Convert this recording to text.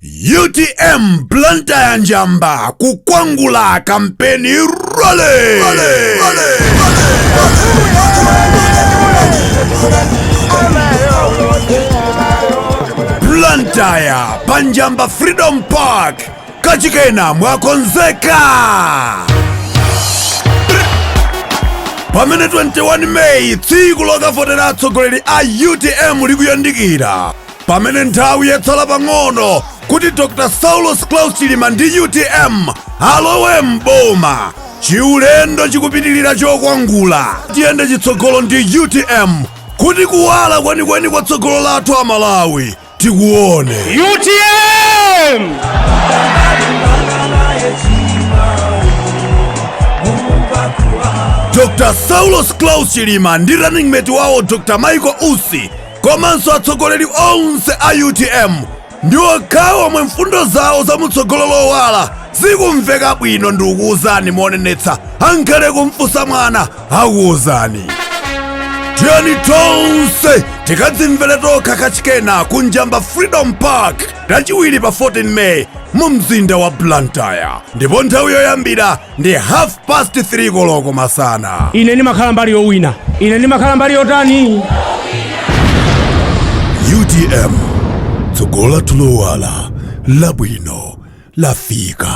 utm blantyre njamba kukwangula kampeni rally, blantyre pa njamba freedom park kachikena mwakonzeka pamene 21 meyi tsiku lokavotera atsogoleri a utm likuyandikira pamene nthawi yatsala pang'ono kuti dr saulos claus chilima ndi utm alowe m'boma chiulendo chikupitirira chokwangula tiyende chitsogolo ndi utm kuti kuwala kwenikweni kwa tsogolo lathu a malawi tikuone utm dr saulos claus chilima ndi running mate wawo dr michael usi komanso atsogoleri onse a utm ndi okhawo omwe mfundo zawo za mutsogolo lowala zikumveka bwino ndikuwuzani monenetsa, angakhale kumfunsa mwana akuwuzani tiyeni tonse tikadzimvere tokha kachikena ku njamba freedom park lachiwiri pa 14 may mu mzinda wa blantyre ndipo nthawi yoyambira ndi 3 koloko masana ine ndimakhala mbali yowina ine ndimakhala mbali yotani utm tsogolo lathu lowala labwino lafika